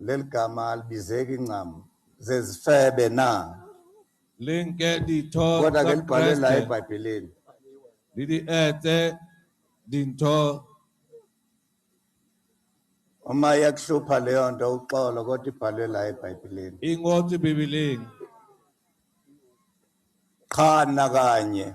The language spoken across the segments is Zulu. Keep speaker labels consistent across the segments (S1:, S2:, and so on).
S1: Leli gama alibizeki ncam. Zezifebe na? Linke
S2: ditho Kodwa ke libhalwe la
S1: eBhayibhelini. le di
S2: etse dintho
S1: Uma iyakuhlupha leyo nto uxolo kodwa ibhalwe la eBhayibhelini. e ngotswe
S2: bibeleng
S1: Qha nakanye.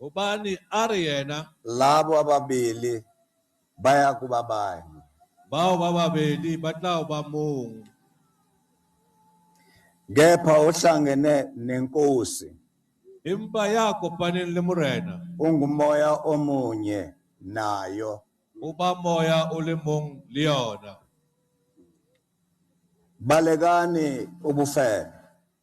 S1: Ubani
S2: ari yena? Labo
S1: ababili baya kuba bani? Bao ba
S2: babeli ba tla ba mong.
S1: Kepha ohlangene nenkosi. Empa
S2: ya kopaneng le Morena. Ungumoya
S1: omunye nayo. Uba
S2: moya o le mong le yona.
S1: Balekani ubufebe.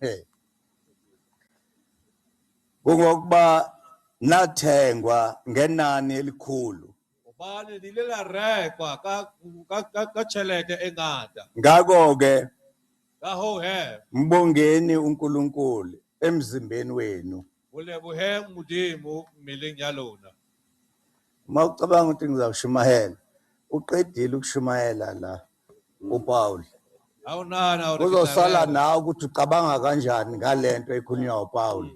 S1: hey kungokuba nathengwa ngenani elikhulu hobane di
S2: ile la rekwa ka ka ka, ka tjhelete e ngata ngakho-ke
S1: ka hoo
S2: he mbongeni
S1: unkulunkulu emzimbeni wenu ho leboheng
S2: modimo mmeleng ya lona uma
S1: ucabanga ukuthi ngizawushumayela uqedile ukushumayela la uPaul
S2: kuzosala nawe ukuthi
S1: ucabanga kanjani ngalento ekhulunywa uPaul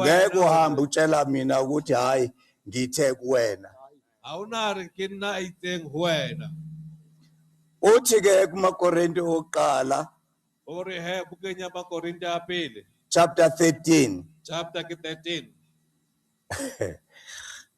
S2: ngeke uhambe utshela mina
S1: ukuthi hayi ngithe kuwena awunari
S2: ke nna a itseng ho wena
S1: uthi ke kumakorinte okuqala o re
S2: he bukeng ya makorinte a pele chapter 13
S1: chapter ke
S2: 13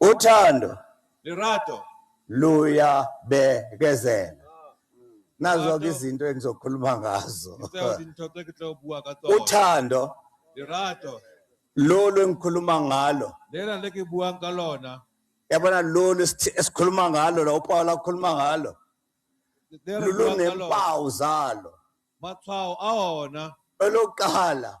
S2: Uthando.
S1: Lirato.
S2: Luyabekezela.
S1: Nazo ke izinto engizokhuluma ngazo.
S2: Uthando.
S1: Lirato.
S2: Lolu
S1: engikhuluma ngalo. Lela lekibuang
S2: ka lona. Yabona lolu
S1: esikhuluma ngalo la uPawula ukhuluma ngalo.
S2: Lulu nempawu zalo.
S1: Matshwao
S2: a ona. Elokuqala.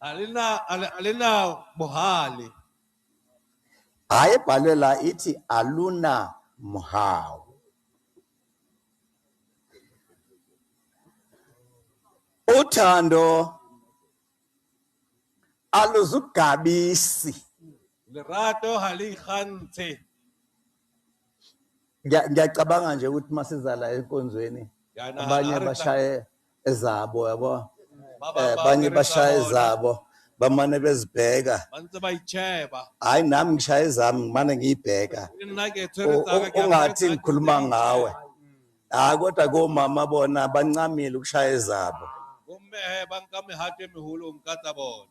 S2: Alina ali- alina bohali.
S1: Hayi ebhalwe la ithi aluna mhawu. Uthando aluzugabisi. Lerato
S2: ha li ikgantshe.
S1: Ngiya- Ngiyacabanga nje ukuthi masizala enkonzweni Yana, abanye ha re
S2: tla- bashaye
S1: ezabo yabo eh,
S2: abanye bashaya ezabo bamane
S1: bezibheka bantse bayicheba
S2: hayi nami ngishaya
S1: ezami ngimane ngiyibheka nna ke tshwere
S2: U- u- ungathi ngikhuluma
S1: ngawe hayi kodwa komama bona bancamile ukushaya ezabo bomme he ba
S2: nka mehato e meholo nka tsa bona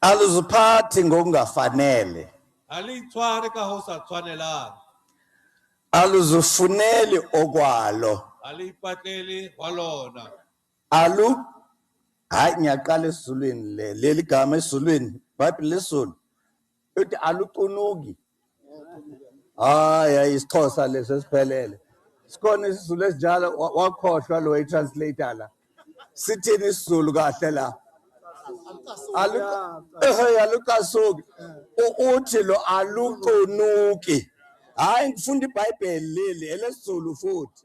S1: aluziphathi ngokungafanele alitshware
S2: ka ho sa tshwanelang aluzifuneli
S1: okwalo alipatleli
S2: wa lona alu
S1: hayi ngiyaqala esizulwini le leli gama esizulwini bhayibhile lesizulu uthi alucunuki hayi hayi isixhosa leso esiphelele sikhona isizulu esinjalo wa- wakhohlwa lo i-translator la sithini isizulu kahle la Alu- Ehhe, alucasuki U- uthi lo alucunuki hhayi ngifunda ibhayibheli leli elesizulu futhi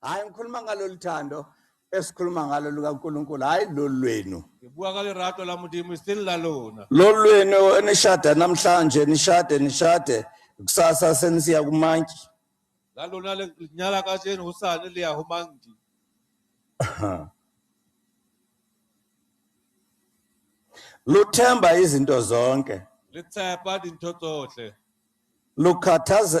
S1: hayi ngikhuluma ngalolu thando esikhuluma ngalo lukaNkulunkulu hayi lolu lwenu ke bua ka lerato
S2: la modimo e seng la lona lolu lwenu
S1: enishada namhlanje nishade nishade kusasa senisiya kumantyi la lona
S2: le nyala ka jeno ho sane le ya ho mangdi
S1: luthemba izinto zonke le tsepa
S2: dintho tsohle lukhathaze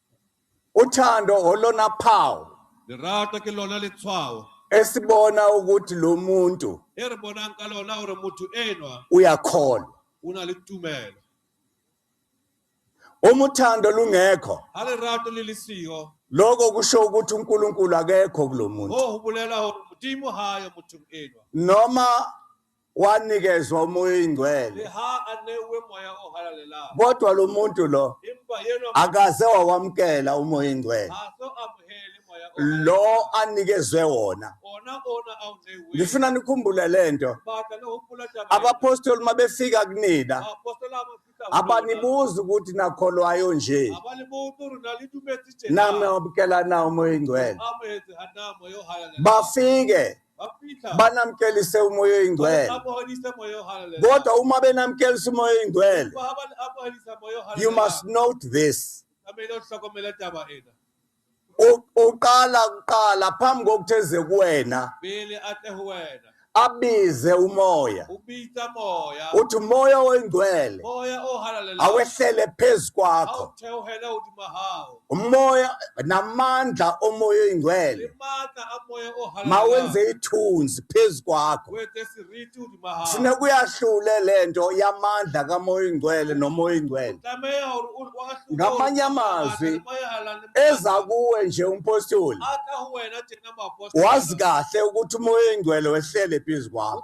S1: Uthando olona phawu Lerato ke
S2: lona letshwao esibona
S1: ukuthi lo muntu e re bonang ka
S2: lona hore motho enwa uyakholwa.
S1: o na le
S2: tumelo.
S1: Uma uthando lungekho, Ha lerato le le
S2: siyo, lokho kusho
S1: ukuthi uNkulunkulu akekho kulo muntu. hoo ho bolela hore
S2: Modimo ha ayo mothong enwa. Noma
S1: wanikezwa umoya oyingcwele
S2: kodwa lo muntu
S1: lo akaze
S2: wawamkela
S1: umoya oyingcwele
S2: lo anikezwe wona ngifuna nikhumbule
S1: lento
S2: abapostoli mabefika
S1: kunina
S2: abanibuzi ukuthi
S1: nakholwayo nje
S2: nami wabukelana
S1: umoya ingcwele
S2: bafike banamkelise umoya
S1: oyingcwele
S2: kodwa uma benamkelisa
S1: umoya oyingcwele
S2: you
S1: must
S2: note this uqala
S1: kuqala phambi kokuthi eze kuwena
S2: abize
S1: umoya ubiza moya
S2: uthi umoya
S1: oyingcwele moya ohalalelayo
S2: awehlele phezu
S1: kwakho
S2: awuthewuhela
S1: uthi
S2: mahawu umoya
S1: namandla omoya oyingcwele
S2: mawenze
S1: ithunzi
S2: phezu
S1: kwakho
S2: funa kuyahlule
S1: lento yamandla kamoya oyingcwele nomoya oyingcwele
S2: ngamanye amazwi
S1: eza kuwe nje umpostoli
S2: wazi kahle ukuthi
S1: umoya oyingcwele wehlele phezu kwakho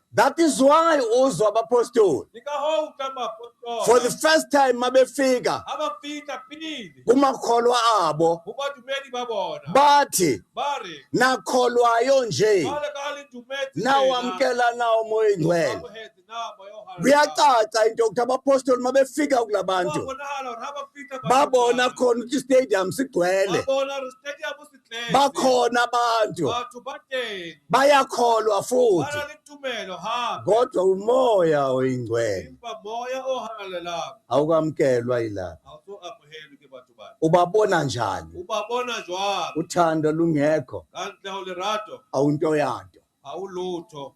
S2: That is why
S1: uzwa abapostoli
S2: for the first time
S1: mabefika
S2: kumakholwa
S1: abo
S2: bathi nakholwayo
S1: nje
S2: nawamkela nawo
S1: moya ingcwele
S2: kuyacaca into yokuthi
S1: abapostoli mabefika kula bantu
S2: babona khona ukuthi
S1: istadium sigcwele
S2: bakhona abantu bayakholwa
S1: futhi
S2: kodwa umoya
S1: oyingcwele
S2: awukamkelwa
S1: yilapha
S2: ubabona njani uthando lungekho awunto yanto
S1: awulutho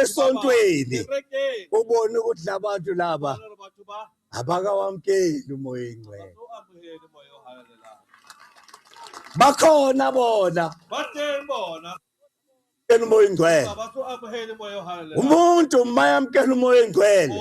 S2: esontweni ubone ukuthi labantu
S1: laba
S2: abakawamkeli
S1: umoya ingcwele
S2: bakhona
S1: bona bateng bona
S2: yamkela umoya
S1: ingcwele
S2: umuntu mayamkela
S1: umoya
S2: ingcwele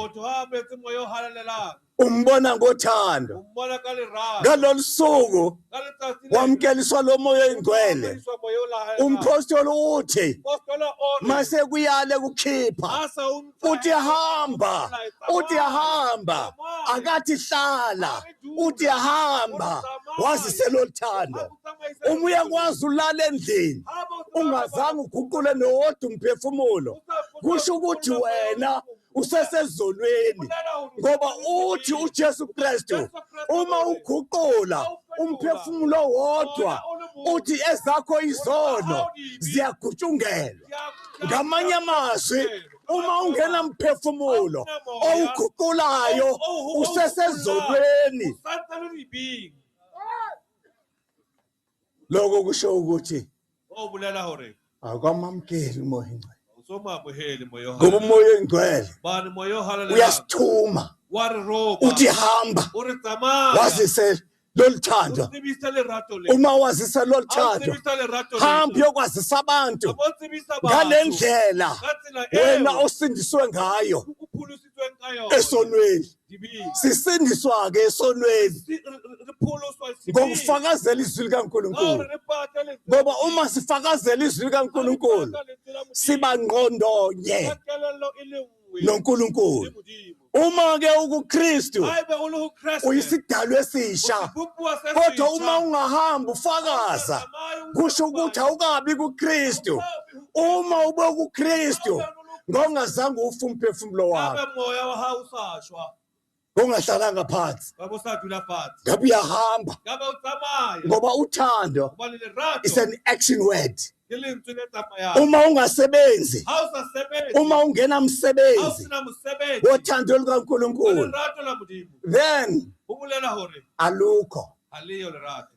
S1: umbona ngothando umbona ka lerato
S2: ngalolu suku
S1: ka letsatsi le
S2: wamkeliswa lo moya
S1: oyingcwele Umoya moya o lahalang.
S2: umphostoli uthi
S1: Apostola o re,
S2: mase kuyale
S1: kukhipha "Ha sa o ntsa uthi
S2: ya- hamba
S1: uthi hamba akathi hlala uthi hamba wazi seloluthando Ha o tsamaisa uma uyakwazi ulala endlini Ha ba o tsamaisa ungazange uguqule nowodwa umphefumulo kusho ukuthi wena usesezonweni ngoba uthi uJesu Kristu uma uguqula umphefumulo wodwa uthi ezakho izono ziyagutshukelwa ngamanye amazwi uma ungena mphefumulo owuguqulayo usesezonweni Lokho kusho ukuthi o bolela hore
S2: awukwamamukeli
S1: umoya ingcwele. Usomamuheli
S2: moya o Ngoba umoya oyingcwele
S1: Bani moya o halalelang.
S2: uyasithuma
S1: Wa re ropa.
S2: uthi hamba O
S1: re tsamaya.
S2: wazise
S1: lolu thando. O tsebisa lerato
S2: le. Uma wazisa lolu Ha o
S1: thando tsebisa
S2: lerato
S1: le. hamba
S2: uyokwazisa
S1: abantu Hamba o tsebisa ngale batho.
S2: ndlela Ka
S1: tsela eo. wena
S2: osindiswe ngayo.
S1: O pholosi-
S2: esonweni sisindiswa-ke
S1: esonweni
S2: ngokufakazela izwi
S1: likankulunkulu
S2: ngoba uma
S1: sifakazela izwi likankulunkulu siba ngqondonye
S2: nonkulunkulu uma ke
S1: ukukristu
S2: uyisidalo esisha
S1: kodwa
S2: uma ungahamba
S1: ufakaza kusho ukuthi awukabi kukristu uma ube ukukristu ngongazange ufe umphefumulo wakho ngabe moya wa hao
S2: usashwa ngongahlalanga
S1: phansi ngabe usadula phansi
S2: ngabe uyahamba
S1: ngabe utsamaya
S2: ngoba uthando
S1: kuba le lerato is
S2: an action
S1: word ke lentswe le
S2: tsamayang uma ungasebenzi
S1: ha o sa sebetse
S2: uma ha ungenamsebenzi
S1: o
S2: sena
S1: mosebetsi
S2: wothando wa
S1: lukankulunkulu
S2: lerato
S1: la modimo
S2: then ho
S1: bolela hore
S2: alukho ha
S1: leyo lerato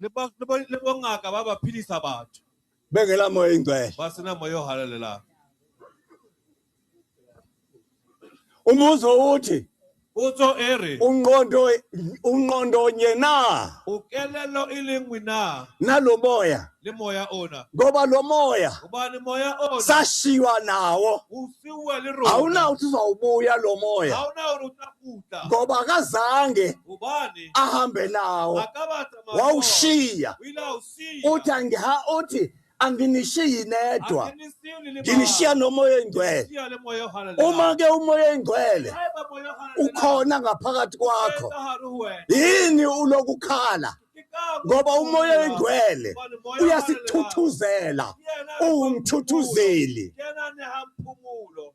S1: le
S2: bongaka ba ba phedisa batho bengela moya o
S1: ingcwele ba sena moya o
S2: halalelang
S1: umbuzo uthi utso e re
S2: unqondo unqondo
S1: nye na ukelelo
S2: e le nngwe na na lo moya
S1: le moya ona
S2: ngoba lo moya
S1: ubani moya
S2: ona sashiywa nawo
S1: usiwe le
S2: rona awuna uthi uzawubuya
S1: lo moya awuna uthi
S2: kuta ngoba akazange
S1: ubani
S2: ahambe nawo
S1: akabata mayo
S2: wawushiya wila usiya uthi angiha uthi
S1: anginishiyi nedwa angenisiwni liba
S2: nginishiya nomoya
S1: oyingcwele Siya le moya ohala
S2: le uma ke umoya
S1: oyingcwele Eba moya ohala le
S2: ukhona ngaphakathi
S1: kwakho
S2: Eba
S1: haru wena
S2: yini
S1: ulokukhala Kikabu
S2: ngoba umoya kuya.
S1: oyingcwele
S2: Ubani
S1: moya ohala le
S2: uyasithuthuzela
S1: Yena
S2: uwumthuthuzeli
S1: Yena
S2: nehamphumulo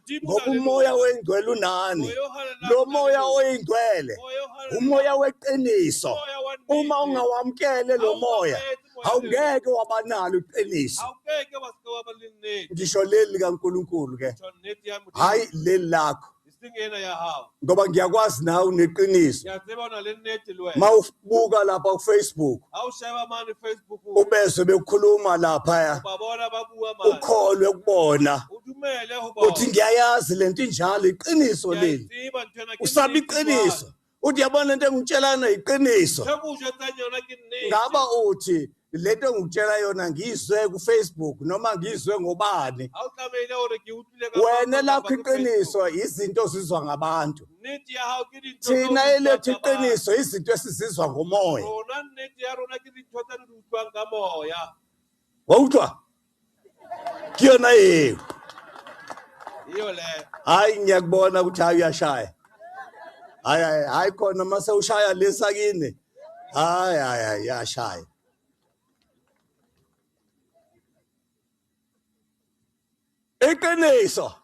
S1: ngoba
S2: umoya oyingcwele
S1: unani lo
S2: moya oyingcwele
S1: umoya
S2: weqiniso
S1: uma
S2: ungawamkele
S1: lo moya awungeke wabanalo iqiniso
S2: ngisho leli likaNkulunkulu
S1: ke
S2: hayi leli lakho ngoba ngiyakwazi
S1: nawe uneqiniso
S2: mawubuka lapha ku
S1: Facebook
S2: ubezwe bekhuluma
S1: lapha
S2: ukholwe kubona uthi ngiyayazi lento
S1: injalo iqiniso leli usaba
S2: iqiniso
S1: uthi yabona into engitshelana iqiniso
S2: ngaba uthi
S1: lento engikutshela yona ngiyizwe kufacebook noma ngiyizwe ngobani
S2: wena lakho iqiniso
S1: izinto zizwa ngabantu
S2: thina elethu
S1: iqiniso izinto esizizwa ngomoya
S2: wawuthwa
S1: kuyona yini
S2: iyo le hayi ngiyakubona
S1: ukuthi hayi uyashaya hayi hayi hayi khona mase ushaya lesa kini hayi hayi hayi yashaya iqiniso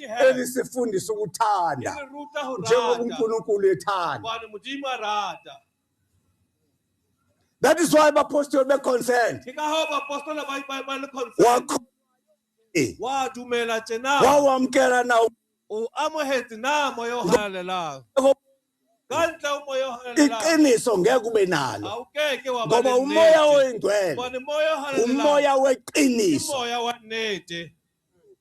S2: elisifundisa
S1: ukuthanda
S2: njengoba uNkulunkulu ethanda
S1: that is why abapostoli be-consent
S2: wadumela tjena wawamkela na
S1: o amohetse
S2: na moya o halalelang ka ntle o moya o halalelang iqiniso ngeke ube
S1: nalo awukeke wa ngoba
S2: umoya oyingcwele
S1: bona
S2: moya o
S1: halalelang
S2: umoya weqiniso
S1: moya wa nnete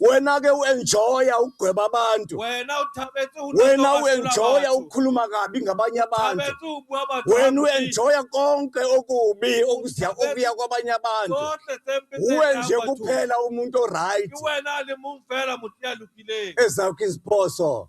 S2: wena ke uenjoya
S1: ukugweba abantu
S2: wena uenjoya
S1: ukukhuluma kabi ngabanye abantu
S2: wena uenjoya
S1: konke okubi okuziya okuya kwabanye abantu uwe
S2: nje kuphela
S1: umuntu oright
S2: ezakho iziphoso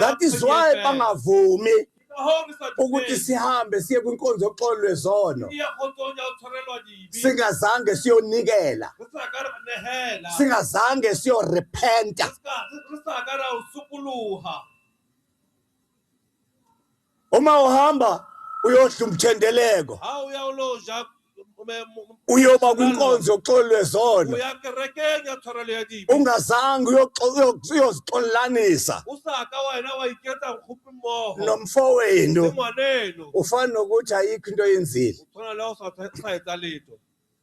S2: that is why
S1: bangavumi
S2: ukuthi sihambe
S1: siye
S2: kwinkonzo
S1: yoxolo lwezono
S2: singazange
S1: siyonikela
S2: singazange
S1: siyorepenta Uma uhamba uyodla umthendeleko. Ha o ya o lo
S2: ja
S1: uyoba kwinkonzo yoxolelwe zona
S2: ungazange
S1: uyozixolelanisa
S2: nomfowenu ufana nokuthi
S1: ayikho into oyenzile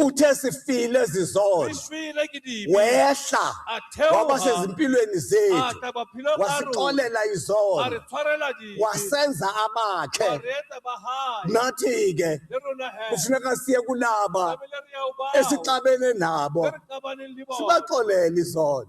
S1: uthe
S2: sifile
S1: zizono
S2: wehla
S1: waba
S2: sezimpilweni
S1: zethu
S2: wasixolela izono wasenza
S1: abakhe
S2: nathi-ke
S1: kufuneka
S2: siye kulaba esixabene nabo sibaxolele
S1: izono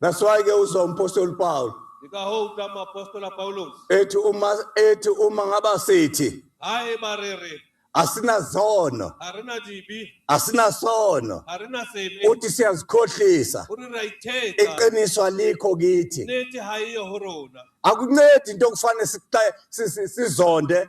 S1: That's why ke uzwa umpostoli Paul Yikaho uta
S2: mapostola Paulus. ethi uma
S1: ethi uma ngaba sithi Hayi barere.
S2: asinazono,
S1: Arena jibi.
S2: asinasono,
S1: Arena sebe.
S2: uthi siyazikhohlisa.
S1: Uri
S2: raiteta. Iqiniso alikho
S1: kithi. Neti hayi
S2: horona. Akuncedi into
S1: okufanele sixa- si- si- sizonde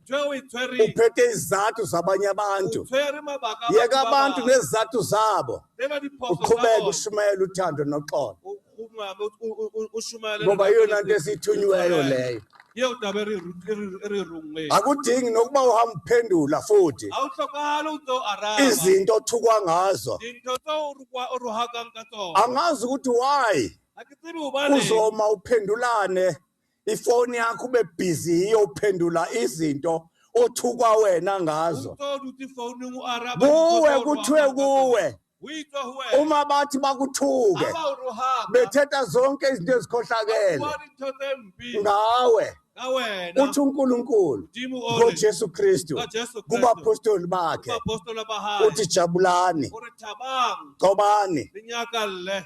S2: uphethe izizathu
S1: zabanye abantu
S2: yeka abantu nezizathu
S1: zabo
S2: uqhubeke ushumayela uthando
S1: noxolo
S2: ngoba iyona nto
S1: esithunyiweyo
S2: leyo akudingi nokuba
S1: uhamba uphendula futhi
S2: izinto othukwa
S1: ngazo
S2: angazi ukuthi why uzoma uphendulane
S1: ifoni yakho ube busy yiyo uphendula izinto othukwa wena ngazo Utold
S2: ukuthi
S1: phone
S2: ungu-Arab. kuwe kuthiwe
S1: kuwe
S2: Uyitwa
S1: huwe.
S2: uma bathi bakuthuke
S1: Aba uruhamba.
S2: bethetha zonke
S1: izinto ezikhohlakele
S2: Awuwani into
S1: embi.
S2: ngawe
S1: Ngawena.
S2: uthi uNkulunkulu
S1: Udimu ole. ngoJesu
S2: Kristu NgoJesu
S1: Kristu. kubaphostoli
S2: bakhe
S1: Abapostola bahayi. uthi
S2: jabulani
S1: Uri thabang.
S2: gcobani Linyaka
S1: le.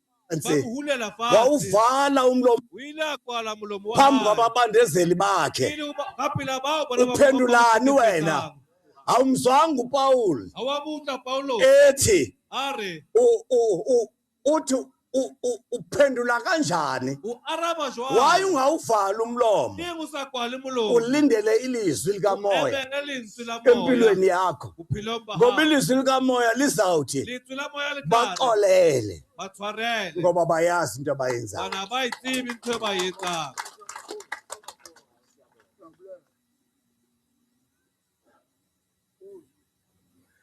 S1: phansi
S2: bakuhulela phansi wawuvala umlomo
S1: o ile a kwala
S2: molomo wa phambi hae kwababandezeli bakhe
S1: pele ho ba- ka pela
S2: bao bona ba mo uphendulani kopang- wena
S1: awumzwanga upawuli ha wa mo utlwa paulo
S2: ethi a
S1: re u-
S2: u- u-
S1: uthi u- u- uphendula kanjani o araba waye
S2: jwang ungawuvala umlomo
S1: eng o sa kwale
S2: molomo ulindele ilizwi
S1: o likamoya emele lentswe
S2: empilweni yakho
S1: ngoba ilizwi
S2: likamoya
S1: lizawuthi
S2: baxolele ngoba bayazi into
S1: abayenzayo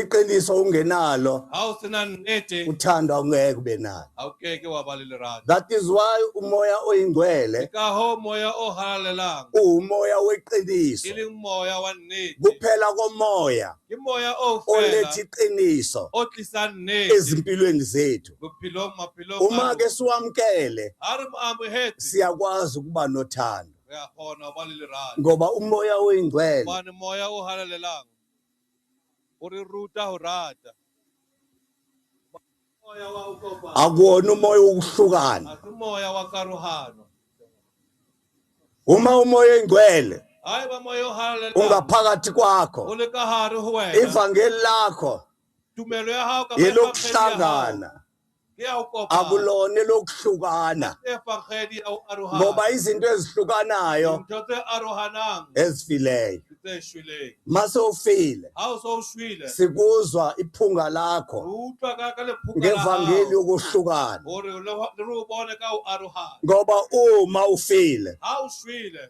S2: iqiniso
S1: ungenalo ha o sena nnete
S2: uthanda ungeke ube
S1: nalo ha o keke wa ba le
S2: lerato that is why
S1: umoya oyingcwele
S2: ka ho
S1: moya
S2: o halalelang umoya
S1: weqiniso
S2: e leng
S1: moya wa
S2: nnete kuphela komoya
S1: ke moya o
S2: fela oletha iqiniso
S1: o tlisa nnete
S2: ezimpilweni zethu
S1: bophelong maphelong
S2: uma ke
S1: siwamkele
S2: ha
S1: re mo amohetse
S2: siyakwazi ukuba
S1: nothando
S2: ngoba umoya
S1: oyingcwele moya o
S2: halalelang O re ruta ho rata. akuwona umoya
S1: wokuhlukana umoya
S2: wakaruhano
S1: uma umoya oyingcwele
S2: ungaphakathi kwakho ivangeli lakho yelokuhlangana akulona
S1: elokuhlukana
S2: ngoba izinto
S1: ezihlukanayo
S2: ezifileyo mase ufile sikuzwa iphunga
S1: lakho
S2: ngevangeli
S1: yokuhlukana
S2: ngoba uma
S1: ufile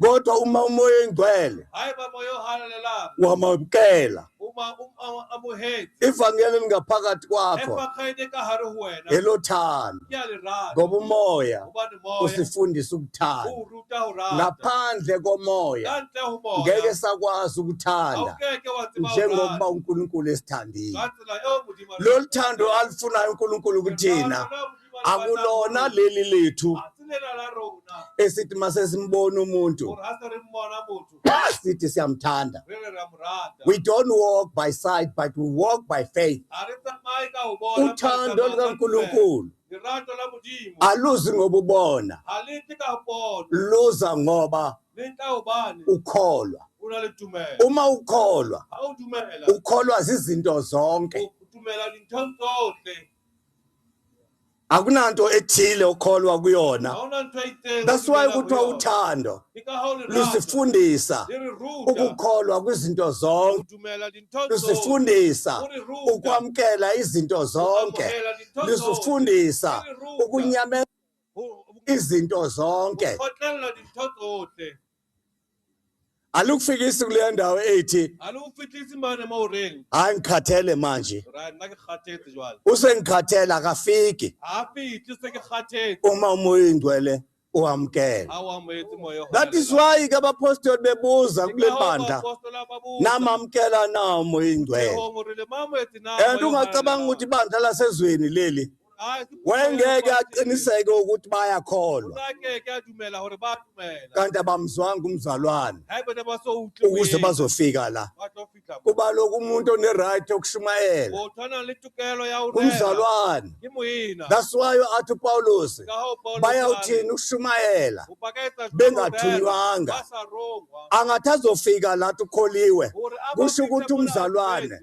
S2: kodwa uma umoya
S1: oyingcwele Hai ba moyo
S2: halelela. wamamukela
S1: Uma um a-
S2: amohetse. ivangeli
S1: elingaphakathi kwakho Efa kaide ka hare
S2: ho wena. elothando Ke a
S1: le rata. ngoba
S2: umoya
S1: Hobane moya.
S2: usifundisa ukuthanda
S1: O ruta ho rata.
S2: ngaphandle
S1: komoya Ka ntle ho moya. ngeke
S2: sakwazi Ha o
S1: ukuthanda keke wa tseba ho
S2: njengokuba rata. unkulunkulu
S1: esithandile Ka tsela eo Modimo
S2: a re lolu thando
S1: alufunayo unkulunkulu kuthina ratang. akulona leli lethu
S2: esithi masesimbona
S1: umuntu
S2: sithi siyamthanda we don't walk
S1: by sight but we walk by faith
S2: uthando
S1: lukaNkulunkulu
S2: aluzi ngoba
S1: ubona
S2: luza ngoba ukholwa uma ukholwa ukholwa zizinto
S1: zonke akunanto ethile okholwa kuyona
S2: that's why kuthiwa
S1: uthando lusifundisa ukukholwa kwizinto zonke
S2: lusifundisa
S1: ukwamkela izinto zonke lusifundisa ukunyamela izinto zonke alukufikisi kuleya ndawo ethi alukufihlisi mane
S2: uma uring hayi ngikhathele
S1: manje right nna ke kgathetse
S2: jwale usengikhathele
S1: akafiki ga fitlhe se ke
S2: kgathetse uma umoya oyingcwele
S1: uwamkele ga o amoetse
S2: moya o that is why ke
S1: abapostoli bebuza kule bandla namamkela na umoya oyingcwele and ungacabanga ukuthi ibandla lasezweni leli wayengeke aqiniseke ukuthi bayakholwa kanti abamzwanga umzalwane ukuze bazofika la kuba lokhu umuntu oneright okushumayela umzalwane kasiwayo athi upawulos bayawuthini ukushumayela bengathunywanga angathi azofika lathi ukholiwe kusho ukuthi umzalwane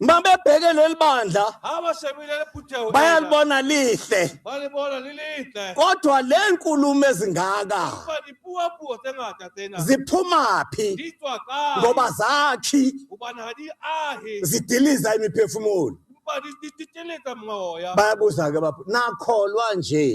S1: uma bebheke leli bandla bayalibona lihle kodwa le nkulumo ezingaka ziphumaphi ngoba zakhi zidiliza imiphefumulo bayabuza-ke bapho nakholwa nje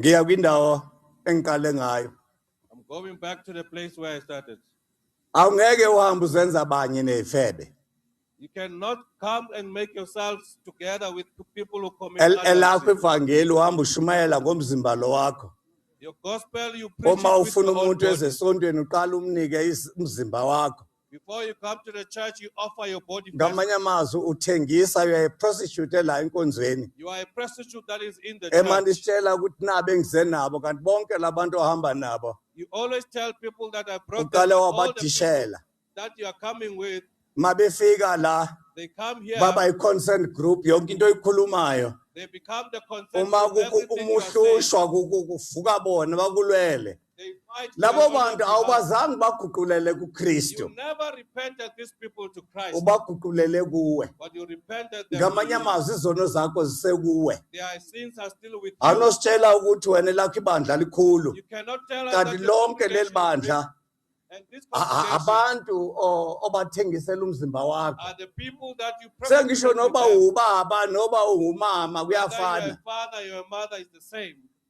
S1: ngiya kwindawo engiqale ngayo I'm going
S2: back to the place where I started. awungeke
S1: uhambe uzenza abanye ney'febe You cannot
S2: come and make yourselves together with people who commit El- others. elakho ivangeli
S1: uhamba
S2: ushumayela
S1: ngomzimba lo wakho Your gospel,
S2: you preach it uma with ufuna your own umuntu body. ezesontweni uqala
S1: umnike is- umzimba wakho Before you come to
S2: the church, you offer your body. first. ngamanye amazwi
S1: uthengisa you are a prostitute ela enkonzweni You are a prostitute
S2: that is in the emane church. isitshela ukuthi
S1: nabe engize nabo kanti bonke labantu ohamba nabo You always
S2: tell people that I brought them, uqale all the people
S1: wabadishela
S2: that you are coming with, uma
S1: befika la they come here, baba
S2: i-consent
S1: group yonke into oyikhulumayo they become the uma
S2: consensus. kuku- Everything you uma are saying,
S1: uhlushwa
S2: kuku- kuvuka
S1: bona bakulwele labo
S2: bantu
S1: awubazange
S2: baguqulele
S1: kukristu
S2: ubaguqulele kuwe ngamanye amazwi izono
S1: zakho zisekuwe
S2: anositshela ukuthi wena
S1: lakho ibandla likhulu kanti
S2: lonke leli bandla abantu
S1: obathengisela umzimba wakho
S2: sengisho noba
S1: ubaba noba ungumama kuyafana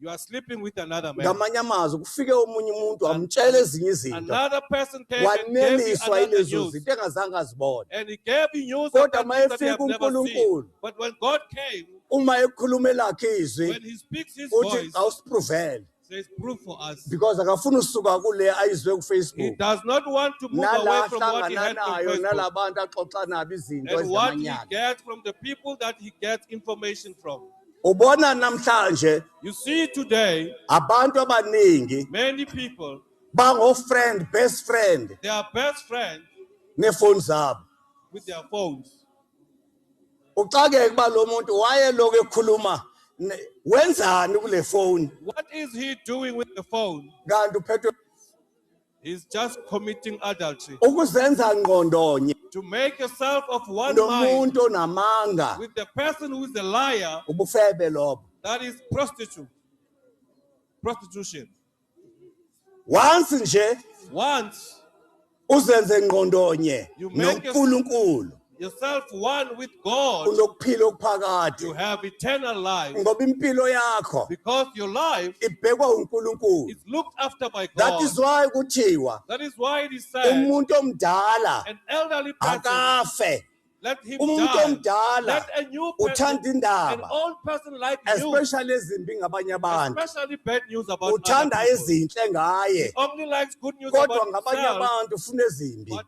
S1: You are sleeping with
S2: another man. ngamanye amazwi kufike
S1: omunye umuntu wamtshela ezinye izinto Another person came and gave you
S2: waneliswa another yilezo news. zinto
S1: engazange
S2: azibone
S1: And he gave you news of Kodwa that uma
S2: things that you have efika never seen. uNkulunkulu.
S1: But
S2: when God
S1: came,
S2: uma ekhuluma
S1: elakhe when izwi he speaks his uthi
S2: voice, awusipruvele says
S1: proof for
S2: us. because akafuni usuka
S1: kule ayizwe He kufacebook does
S2: not
S1: want to
S2: move nala away from what he ahlangana had from nayo
S1: Facebook
S2: nala bantu
S1: axoxa nabo izinto and what he ezamanyala gets
S2: from the people that he gets information from. ubona
S1: namhlanje You see today,
S2: abantu
S1: abaningi many people,
S2: bango-friend
S1: best friend they are best friends
S2: neefoni
S1: zabo with their
S2: phones.
S1: uxakeke uba lo muntu wayelokhu ekhuluma ne- wenzani kule foni What is he
S2: doing with the phone? kanti uphethwe
S1: He's
S2: just committing adultery. ukuzenza
S1: ngqondonye To make yourself
S2: of one mind nomuntu onamanga
S1: with the person who
S2: is a liar, ubufebe lobo
S1: that is prostitute.
S2: Prostitution.
S1: once nje Once
S2: uzenze
S1: ngqondonye You make yourself-
S2: noNkulunkulu
S1: yourself
S2: one with God, unokuphila you okuphakade
S1: have eternal
S2: life ngoba impilo yakho
S1: because your life
S2: ibhekwa uNkulunkulu
S1: is looked after
S2: by that God. is why
S1: kuthiwa That is why it is
S2: said, umuntu omdala
S1: an elderly person,
S2: akafe
S1: let him umuntu
S2: die. omdala
S1: Let a new
S2: person, uthanda an indaba old person
S1: like
S2: you, especially ezimbi
S1: ngabanye abantu especially bad news about other
S2: uthanda people. ezinhle ngaye He
S1: only likes good
S2: news kodwa about ngabanye himself,
S1: abantu
S2: ufuna ezimbi
S1: but